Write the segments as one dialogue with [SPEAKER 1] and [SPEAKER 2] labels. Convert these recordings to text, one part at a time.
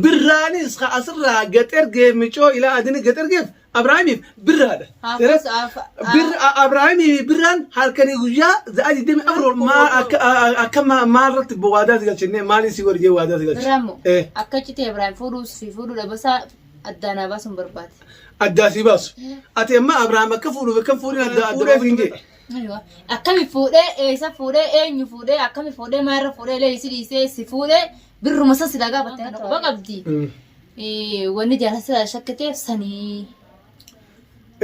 [SPEAKER 1] Birraanis ka asirraa gad ergee micoo ilaa adini gad ergeef Abrahaamiif birraadha. Haafas Abrahaamiif birraan halkanii guyyaa za'a 24 maal akka akka ma- maal irratti waadaa si galchine maal si warjee waadaa si galchine. Birraamoo Eh. akka
[SPEAKER 2] citee Ibrahim fuudhuus fi fuudhuudha basaa addaan haa baasuun barbaade. Addaa si baasu.
[SPEAKER 1] Ati amma Abrahaam akka fuudhuuf akka fuudhin adda adda baasuu hin jedhe. Aywa.
[SPEAKER 2] Akkami fuudhee eessa fuudhee eenyu fuudhee akkami fuudhee maal irra fuudhee illee si dhiisee si fuudhee Birruma san silaa gaafatte kana quba qabdi. Eh, Wanni jaalasa silaa shakkiteef sanii.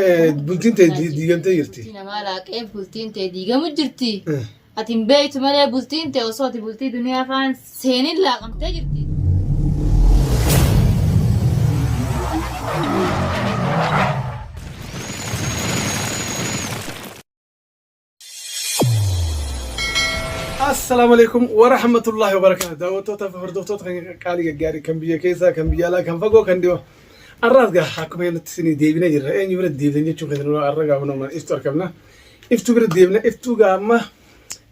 [SPEAKER 2] Eh,
[SPEAKER 1] bultiin ta'e di- diigamtee jirti. Bultii namaa laaqee
[SPEAKER 2] bultiin ta'e diigamu jirti. Eh, Ati hin beektu malee bultiin ta'e osoo ati bultii duniyaa faan seenin laaqamtee jirti.
[SPEAKER 1] Assalaamu alaikum wa rahmatullahi wa barakaatu. Daawwattoota fi hordoftoota kan qaalii gaggaarii kan biyya keessaa kan biyya alaa kan fagoo kan dhiyoo. Arraas gaa akkuma nuti isinii deebinee jirra. Eenyu bira deebisan jechuun keessan irraa arra gaa hundumaa iftu argamna. Iftu bira deebina iftu gaa amma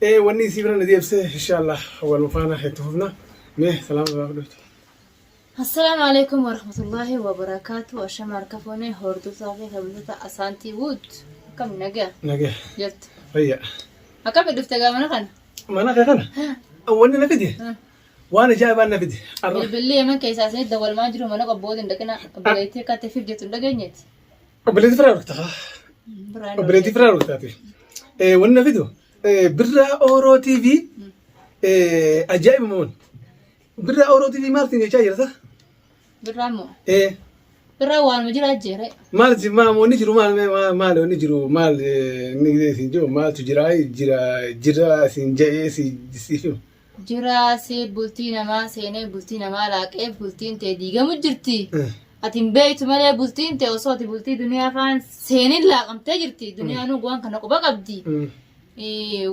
[SPEAKER 1] eh, wanni isii bira na deebisee inshaallah wal faana itti fufna. Mee salaama irraa fudhatu.
[SPEAKER 2] Assalaamu alaikum warahmatullahi wabarakaatu ashama harka fuune hordoftoota fi kabajata asaantii wuud akkam nagaa Nagee. jirtu Fayyaa.
[SPEAKER 1] akkami dhufte
[SPEAKER 2] gaa mana kana Mana kee
[SPEAKER 1] kana wanni na fide Hmm. waan ajaa'ibaan na fide. Arra. bilbilli yeman keessaa
[SPEAKER 2] isinit dawwalmaa jiru mana qabbooti hin dhaqina obboleettii akka tefiif jettu hin dhageenyeeti Obboleetti firaa
[SPEAKER 1] rukta. Biraan Obboleetti firaa ruktaati. Wanni na fidu birraa ooroo TV ajaa'iba moon. Birraa Oro TV maal siin jechaa jirta? Birraa moo?
[SPEAKER 2] Ee. Birraa waanuma jiraa jeeree. Maal si maal wanni
[SPEAKER 1] jiru maal maal maal wanni jiru maal inni siin jiru maaltu jira jira jira siin ja'ee si si Jiraa
[SPEAKER 2] si bultii namaa seenee bultii namaa laaqee bultiin tee diigamu jirti. Ati hin beektu malee bultiin tee osoo ati bultii duniyaa faan seenin laaqamtee jirti. Duniyaan waan kana quba qabdi.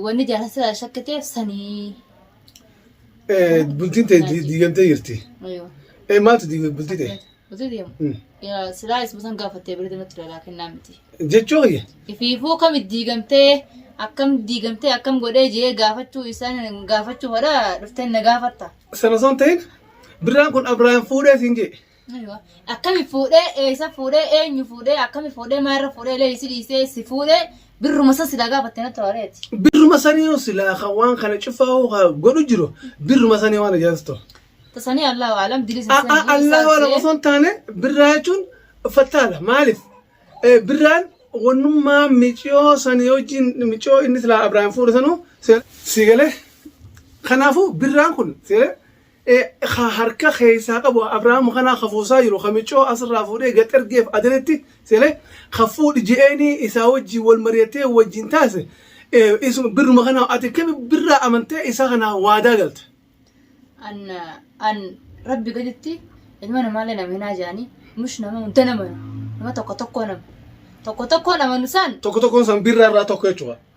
[SPEAKER 2] Wanni jaalasa shakkiteef sanii. Eh,
[SPEAKER 1] bultiin tee di- diigamtee jirti. Aywa. Eh,
[SPEAKER 2] maaltu diigame
[SPEAKER 1] bultii tee? Bultii deemu.
[SPEAKER 2] Mm. Yaa, Silaa isma san gaafattee birri natti dhalaa kennaa miti. Jechuu kiyya.
[SPEAKER 1] Ifiifuu kam
[SPEAKER 2] diigamtee akkam diigamtee akkam godhee jee gaafachuu isaan gaafachuu hodha dhuftee na gaafatta. Sana osoo hin ta'in
[SPEAKER 1] birraan kun Abiraam fuudhee siin jee. Aywa.
[SPEAKER 2] Akkami fuudhee eessa fuudhee eenyu fuudhee akkami fuudhee maalirra fuudhee illee isi dhiisee si fuudhee birruma san silaa gaafatte natti horeeti. Birruma sanii yoo
[SPEAKER 1] silaa kan waan kana cufaa hoo haa godhu jiru birruma sanii waan ajaa'ibsiis ta'u. Tasanii Allahu
[SPEAKER 2] alam dilii sun sanii isaa Allah waan ta'ee. osoo
[SPEAKER 1] hin taane birraa jechuun fattaadha maaliif Eh, birraan wannummaa miciyoo sanii wajjin miciyoo inni silaa Abiraam fuudhe sanuu si- si galee kanaafuu birraan kun si galee ka harka keessaa qabu Abrahaam kanaa ka fuusaa jiru ka miccoo asirraa fuudhee gad ergeef adanitti sele ka fuudhi je'eenii isaa wajjin wal mari'atee wajjin taase isuma birruma kanaa ati kami birraa amantee isaa kanaa waadaa galte. an
[SPEAKER 2] an rabbi gaditti ilma namaallee nama hinaa jedhanii mush nama hunda nama nama tokko tokkoo nama tokko tokkoo nama nusaan Tokko tokkoon san birraa irraa
[SPEAKER 1] tokko jechuudha.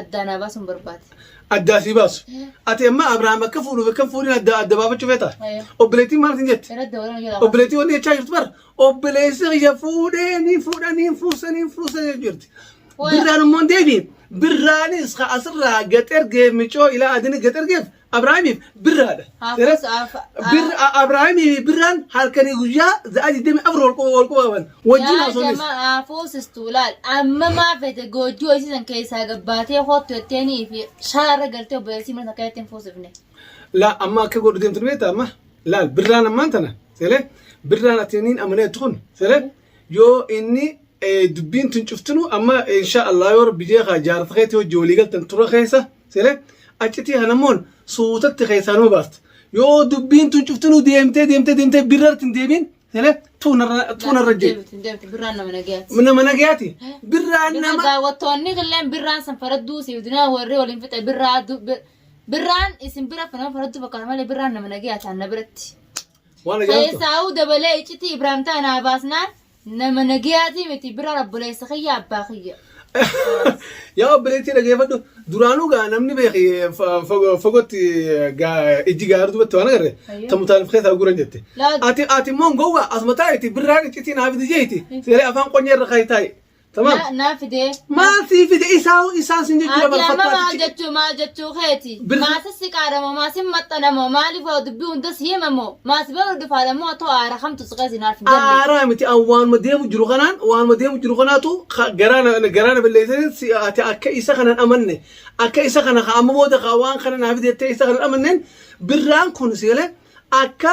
[SPEAKER 2] Addaa naa baasuun barbaade. Addaa sii baasu.
[SPEAKER 1] Ati amma Abrahaam akka fuudhuuf akka hin fuudhin adda adda baafachuu feeta. Ayyo. Obboleettiin maal isin jette? Irratti waliin jala. Obboleettii wanni jechaa jirtu bara. Obboleessi kiyya fuudhee ni fuudha ni fuusa ni fuusa jechaa jirti. Waay. Birraan immoo hin deebiin. Birraanis ka asirraa gad ergee micoo ilaa adini gad ergeef Abrahaamiif birraadha. Haafas birra Abrahaamiif birraan halkanii guyyaa za'a 24 wal quba wal quba qaban. Wajjin haasofnis. Yaa jamaa haafus
[SPEAKER 2] istuulaal amma maa fete goojjuu hoosisan keessaa gabbaatee hoottu jetteeni fi shaarra galtee obboleessii mana takka jetteen fuusifne. Laa amma akka
[SPEAKER 1] godhu deemtu ni beekta amma. Laal birraan ammaan tana seele birraan ati niin amalee tukun seele yoo inni dubbiin tun cuftinu amma insha Allah yoo rabbi jeekaa jaarsa keetii hojii walii galtan tura keessa. Sele achitii hanammoon suutatti keessaa nama baafte. Yoo dubbiin tun cuftinuu deemtee deemtee deemtee birrarti hin deebiin sele tuunarra jee. Birraan nama
[SPEAKER 2] nagayaati. Nama nagayaati.
[SPEAKER 1] Birraan nama. Daawwattoonni
[SPEAKER 2] illee birraan san faradduu siif dinaa warri waliin fixe birraa birraan isin bira nama faradduu fakkaata malee birraan nama nagayaati na biratti. Waan ajaa'ibtu. Keessaa dabalee iccitii Ibraahim
[SPEAKER 1] ta'an
[SPEAKER 2] naa baasnaan. Nama nagayaatii miti biraan obboleessa kiyya abbaa kiyya.
[SPEAKER 1] Yaa obboleettii dhageeffadhu duraanuu gaa namni beeki fa- fago- fagootti gaa- ijji gaara duubatti waan agarre Ayyoo. ta mutaalif keessaa guran jette. Laa- Ati ati immoo gowwa asuma taa'iti birraa qiccitii naa fidi jeeti seeree afaan qonyee irra kaa'e taa'i. Tamam. Na- Naa fidee. Maal
[SPEAKER 2] sii fide
[SPEAKER 1] isaa isaan sin jechuu Ati amma maal dabarfattaati. jechuu maal jechuu keeti?
[SPEAKER 2] Bir- Maasa si qaadamo maasin maxxanamo maaliif waa dubbii hundas himamo maas bira dhufaadamo otoo aara kamtu si qeesi naaf hin galle. Aaraa miti an waanuma
[SPEAKER 1] deemu jiru kanaan waanuma deemu jiru kanaatu ka- garaa na- garaa na balleessanii si ati akka isa kanan amanne akka isa kana ka amma booda ka waan kana naaf jettee isa kanan amannen birraan kun si galee akka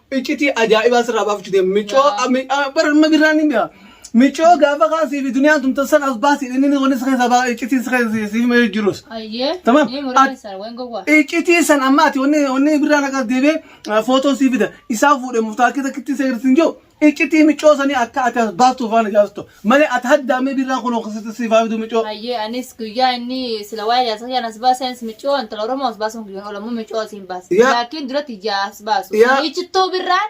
[SPEAKER 1] Iccitii ajaa'ibaa sirraa baafachu deema. Micoo Yaa. ami- a- bara amma birraan ni mi'a. Micoo gaafa kaasii fi duniyaan tumtan sana as baasii inni inni wanni si keessa baa iccitiin si keessa si- si himee jirus. Ayyee. Tamam. Ni muree At- keessan waan gowwaa. Iccitii san amma ati wanni wanni birraan akka deebee footoon si fida. Isaa fuudhee murtaakii takkitti si agarsiisin jiru. Iccitii micoo sanii akka ati as baastuuf waan ijaarsitu. Male ati haddaa mee birraa kunoo kasitti siif haa fiduu micoo. Hayyee anis guyyaa
[SPEAKER 2] inni sila waa'ee jaarsa kiyyaa nas baasee anis micoo intala Oromoo as baasuun kiyyoon oola immoo micoo asiin baasa. Yaa. Laakiin dura tiyyaa as baasu. Yaa. Ichittuu birraan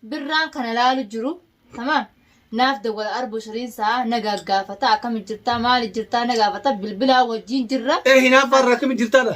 [SPEAKER 2] birraan kana laalu jiru. Tamaam. Naaf dawwala arbu shiriin sa'a na gaggaafata akkami jirtaa maali jirtaa na gaafata bilbilaa wajjin jirra. Ee hinaaffaa irraa akkami
[SPEAKER 1] jirtaadha?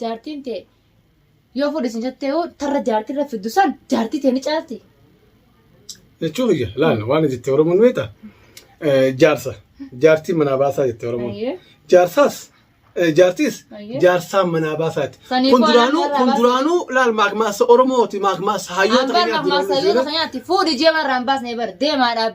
[SPEAKER 2] Jaartiin tee yoo fuudhe isin jettee hoo tarra jaartii irra fiddu san jaartii tee ni caalti.
[SPEAKER 1] Jechuu kiyya laala waan jettee Oromoon beekta jaarsa jaartii manaa baasaa jettee Oromoon. Ayyee. Jaarsaas eh, jaartiis Ayyee. jaarsaa manaa baasaati. Sanii Kun booda duraanuu manaa kun baasa. duraanuu laal maakmaasa Oromooti maakmaasa hayyoota Hambaan keenyaati. ammaa sayyoo tasanyaatti
[SPEAKER 2] fuudhi jee marraan baasnee bar deemaadhaaf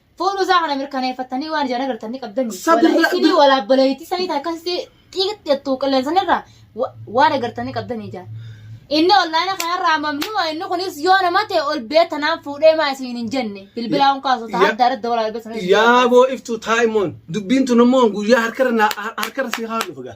[SPEAKER 2] Fuudhuu isaa kana mirkaneeffattanii waan ijaan agartan ni qabdanii. Sabirra- Walaa isinii walaa obboleettii sanii ta'e akkasitti xiiqitti jettu qilleensan irraa wa- waan agartan ni qabdanii ijaan. Inni ollaana kanarraa mamnuma inni kunis yoo nama ta'e ol beetanaan fuudhee maa isin hin jenne bilbilaa kun kaasu ta'a Ya- adda adda walaa ol beetanaan. Yaaboo iftuu
[SPEAKER 1] taa'imoon dubbiin tun immoo guyyaa harkarra naa- harkarra si haa dhufu gaa.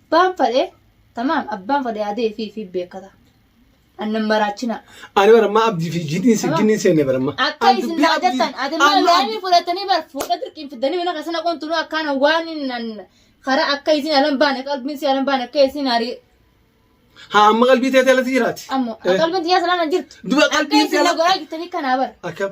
[SPEAKER 2] Abbaan fadhe tamaam abbaan fadhe adee fi fi beekata. Annan maraachina. Ani bara ammaa abdii
[SPEAKER 1] fi jidhiin si ginni seenne bara ammaa. Akka Ani isin dubbii naa abdii- jettan
[SPEAKER 2] ati Amma- mallaanii fudhatanii bar fuudha dirqiin fiddanii mana keessan haqoon tunuu akkaan waan nan karaa akka isin alan baane qalbiin si alan baane akka isin arii Haa
[SPEAKER 1] amma qalbii teetee alatti jiraati. ammoo Eh. qalbiin tiyyaa
[SPEAKER 2] salaan jirtu. Duba Akka qalbiin isin na teela. goraa jirtanii kanaa bar. Akkam.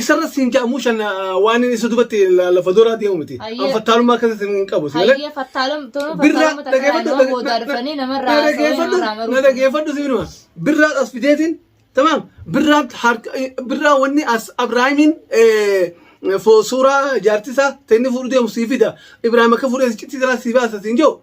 [SPEAKER 1] Isarra siin ja'a muushan waan inni isa dubatti lafa dooraa deemu miti. An fattaalummaa akkasitti hin qabu. Hayyee fattaalum toluma fattaaluma takka nama boodaa dhufanii namarraa haasawanii Na dhageeffadhu si minuma. Birraa as fideetiin tamaam birraa harka birraa wanni as Abiraahimiin suuraa jaartisaa ta'inni fuudhu deemu sii fida. Ibraahim akka fuudhee citti jira sii baasa siin jiru.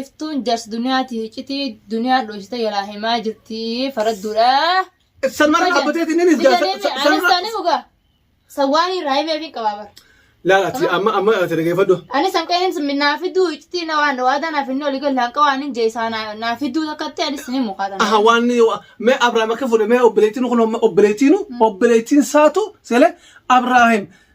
[SPEAKER 2] Iftuun jars duniyaati hicitii duniyaan dhoysite yalaa himaa jirtii faradduudha. Sanmarra
[SPEAKER 1] dhaabbatee tinninis jaa. Anis taane
[SPEAKER 2] mugaa. San waan hin raayimee fi qabaabar. Laal ati amma
[SPEAKER 1] amma ati dhageeffadhu. Ani san qe'een sun
[SPEAKER 2] naa fiduu ictii na waan waadaa naaf inni olii galaan qawaan hin jeesaa naa fiduu takkatti anis ni mukaatan. Aha waan
[SPEAKER 1] mee Abrahaam akka fuudhe mee obboleettiin kun obboleettiinu obboleettiin saatu sele Abrahaam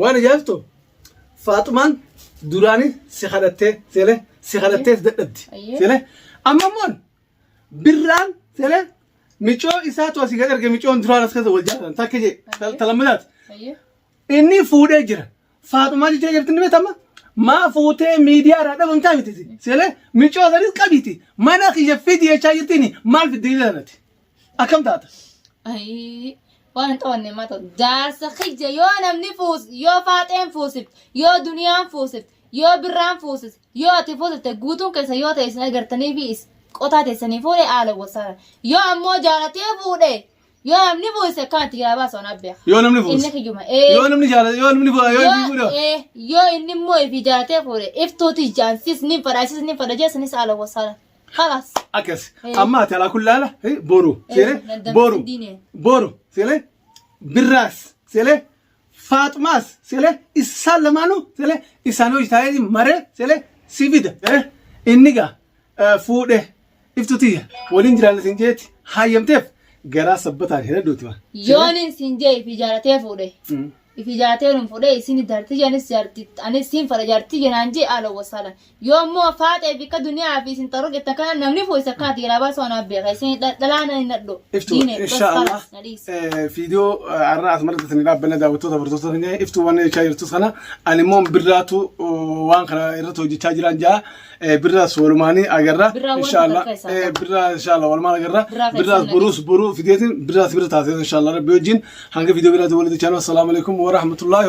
[SPEAKER 1] Waan ajaa'ibtu Faaxumaan duraanii si kadhattee seelee si kadhattee dadhabdi Ayyee. seelee amma immoo birraan seelee micoo isaatu asii gad erge micoon duraan as keessa wal jaalatan takka jee Ayyee. talammadaati Ayyee. inni fuudhee jira Faaxumaa jechaa jirti ni beekama maa fuutee miidiyaa irraa dhabamtaa miti seelee micoo sanis qabiti mana kiyya fidi jechaa jirti inni maal fidde jedhanati. Akkam taata? Ayii,
[SPEAKER 2] waan hin qabanne maata. Jaarsa kiyya yoo namni fuus, yoo faaxeen fuusifte, yoo duniyaan fuusifte, yoo birraan fuusifte, yoo ati fuusifte guutuun keessa yoo ta'e isin agartanii fi is- qotaa teessanii fuudhe haala wasaara. Yoo ammoo jaalatee fuudhe, yoo namni fuusise akkanatti yaa baasu anaa beeka. Yoo namni fuuse. Inni kiyyuma.
[SPEAKER 1] Ee. Yoo namni
[SPEAKER 2] jaalate, yoo
[SPEAKER 1] namni fuudhe, yoo inni fuudhe. ee, yoo inni
[SPEAKER 2] immoo ifi jaalatee fuudhe iftuuti jaan sis ni fadha sis ni fadha jeessanis haala wasaara. خلاص akkas Eh.
[SPEAKER 1] amma ati alaa kullaala eh, boru Eh, seele dandamtee boru diine. boru seele birraas seele faaxumaas seele isaan lamaanuu seele isaan hojii taa'ee maree seele si fida eh, inni gaa eh, fuudhe iftu tiyya waliin jiraanna sin jeetti hayyamteef garaa sabbataan hin hedduuti waan. Yooniin siin
[SPEAKER 2] jee fi jaalatee fuudhe. ifi jaatee nun fudhee isini jarti janis jarti anis siin fadha jarti jenaan jee aala wasaala yoo immoo faaxee fi ka duniyaa fi isin xarro jettan kana namni fuu isa kana diiraa baasuu anaa beeka isin dhalaana hin nadhu Iftu diine insha basara
[SPEAKER 1] Allah na dhiisa eh, viidiyoo eh, har'a asumatti isin dhaabbanne daawwattoota bartoota keenya iftu waan jechaa jirtus kana ani immoo birraatu eh, waan kana irratti hojjechaa jiraan jaa Eh, birraas walumaanii agarra Birraa wanta inshaalla takka isaa Eh, birraa inshaalla walumaan agarra Birraa kan birraas isaan buruus buruu fideetiin birraas bira taatee inshaalla rabbi wajjin hanga viidiyoo biraatti walitti chaanuu assalaamu alaikum warahmatullaahi